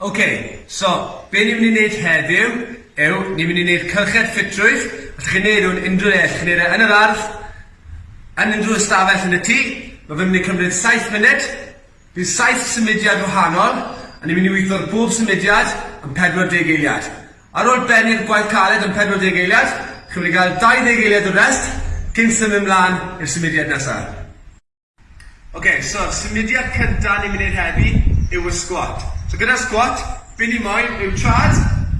Ok, so, be ni'n mynd i wneud heddiw yw, ni'n mynd i wneud cylched ffitrwydd, allwch chi wneud hwn unrhyw le, allwch chi wneud e yn yr ardd, yn unrhyw ystafell yn y tŷ, ma' fe'n mynd i cymryd saith munud, bydd saith symudiad wahanol, a ni'n mynd i witho'r bob symudiad yn 40 eiliad. Ar ôl bennu'r gwaith caled yn 40 eiliad, chi'n mynd i gael 20 eiliad o rest cyn symud mlan i'r symudiad nesa. Ok, so symudiad cynta ni'n mynd i neud heddi yw y squat. So gyda'r squat, be ni moyn yw traed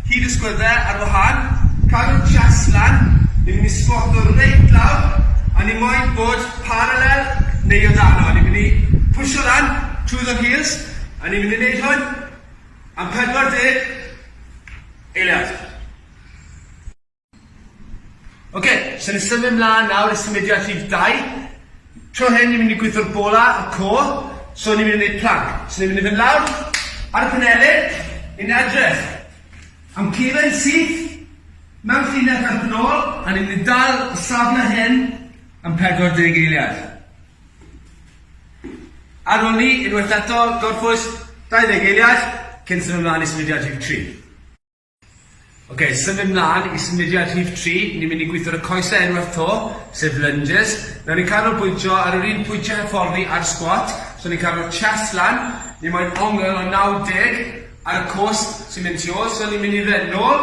hyd y sgwydde ar wahân, cadw'r chest lan, ni'n mynd i squato reit lawr, a ni moyn bod parallel neu o dano, ni'n mynd i pwsio lan trwy the heels, a ni'n mynd i neud hwn am 40 eiliad. Ok, so ni'n symud mlaen nawr i symudiad rhif dau. Tro hyn ni'n mynd i gweithio'r bola, y core, so ni'n mynd i wneud plank. So ni'n mynd i fynd lawr ar y penelin, ni'n edrych am cefen syth mewn llinell ar fy nôl, a ni'n mynd i dal y safle hyn am 40 eiliad. Ar ôl ni, unwaith eto, gorffwys 20 eiliad cyn symud mlaen i symudiad rhif tri. Ok, symud mlaen i symudiad rhif tri, ni'n mynd i gweithio ar y coesau unwaith to, sef lunges. Nawr ni'n canolbwyntio ar yr un pwyntiau hyfforddi a'r squat, so ni'n cadw'r chest lan, ni moyn ongl o 90 ar y cwrs sy'n mynd tu ôl, so ni'n mynd i fynd nôl,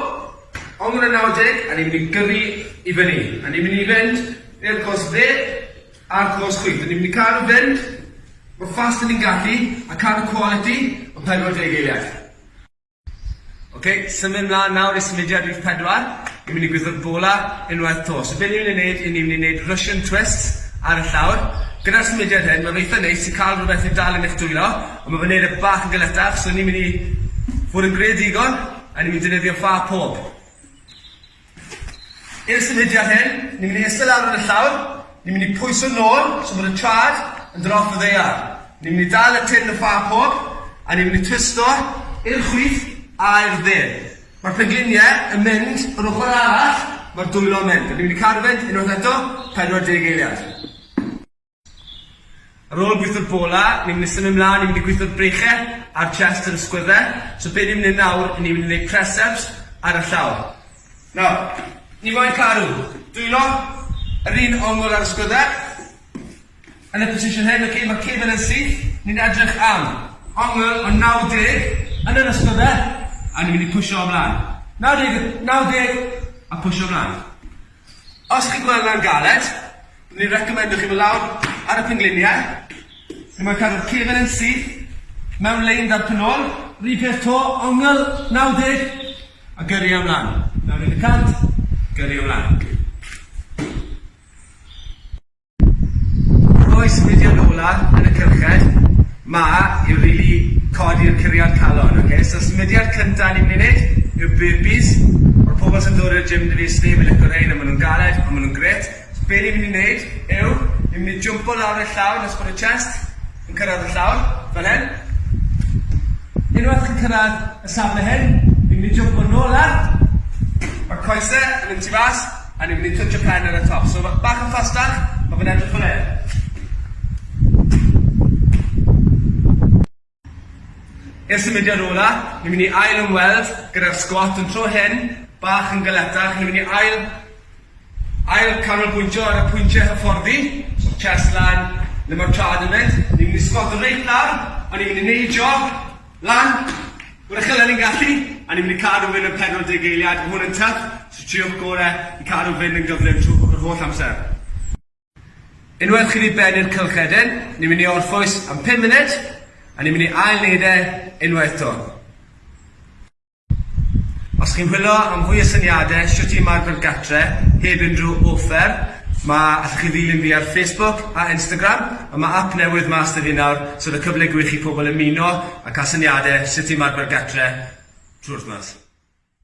ongl o 90, a ni'n mynd i gyrru i fyny, a ni'n mynd i fynd i'r cwrs dde a'r cwrs chwith, a ni'n mynd i cadw fynd mor fast a ni'n gallu, a cadw quality o 40 eiliad. Ok, symud mlaen nawr i symudiad rhif pedwar. Ni'n mynd i gwitho'r bola unwaith to. So be' ni'n mynd i neud, i ni'n mynd i neud Russian twists ar y llawr. Gyda'r symudiad hyn, ma' fe eitha neis i ca'l rwbeth i dal yn eich dwylo, on' ma' fe'n neud e bach yn galetach, so ni'n mynd i fod yn greadigol, a ni'n mynd i defnyddio ffa pob. I'r symudiad hyn, ni'n mynd i iste lawr ar y llawr, ni'n mynd i pwyso nôl tra bod y traed yn dod off y ddaear, ni'n mynd i dal y tin y ffa coch a ni'n mynd i twisto i'r chwith a i'r dde. Mae'r pengliniau yn mynd yr ochr arall mae'r dwylo'n mynd a ni'n mynd i cadw fynd unwaith eto 40 eiliad. Ar ôl gwitho'r bola, ni'n mynd i symud mlan i mynd i gwitho'r breiche a'r chest yr ysgwyddhe, so be' ni'n mynd i neud nawr, i ni'n mynd i neud press ups ar y llaw. Nawr, ni moyn caru, dwylo, yr un ongl a'r ysgwyddhe, yn y position hyn, ok, ma'r cefn yn syth, ni'n edrych am ongl o 90 yn yr ysgwyddhe, a ni'n mynd i pwsho o mlan. 90, 90, a pwsho mlan. Os chi'n gweld hwnna'n galed, byddwn i'n reccomendo chi fod lawr ar y pengliniau, lle mae'n cadw'r cefn yn syth, mewn lein 'da'r pen-ôl. Yr un peth 'to, ongl 90, a gyrru e ymlan. Nawr un deg cant, gyrru e ymlan. Oes Gwydion Ola yn y cyrchfed? Mae i rili codi'r curiad calon oce so symudiad cynta ni'n myn' i neud yw burpees ma'r pobol sy'n dod i'r gym da fi sdim yn lico rhein a ma' nhw'n galed on' ma' nhw'n grêt so be' ni myn' i neud yw ni myn' i jwmpo lawr y llawr nes bod y chest Yn cyrraedd y llawr, fel hyn. Unwaith chi'n cyrraedd y safle hyn, ni'n mynd i jympio nôl lan, ma'r coese yn mynd tu fas, a ni'n mynd i twtshio pen ar y top. So ma- bach yn ffastach, ma' fe'n edrych fel hyn. I'r symudiad ola, ni'n mynd i ail-ymweld gyda'r sgwat, ond tro hyn, bach yn galetach, ni'n mynd i ail Ail canolbwyntio ar y pwyntiau hyfforddi, so chest lan, le ma'r traed yn mynd, ni'n mynd i sgwato reit lan, a ni'n mynd i neud jog lan, mor uchel a ni'n gallu, a ni'n mynd i cadw fynd am 40 eiliad, ma' hwn yn tough, so triwch gore i cadw fynd yn gyflym trw- yr holl amser. Unwaith chi 'di bennu'r cylchedyn, ni'n mynd i orffwys am pum munud, a ni'n mynd i ail neud e unwaith 'to. Os chi'n chwilio am fwy o syniadau shwt i ymarfer gatre heb unrhyw offer, ma'... allwch chi ddilyn fi ar Facebook a Instagram, a ma' ap newydd mas 'da fi nawr, so o'dd y cyfle gwych i pobl ymuno a ca'l syniadau sut i ymarfer gatre trwy'r wythnos.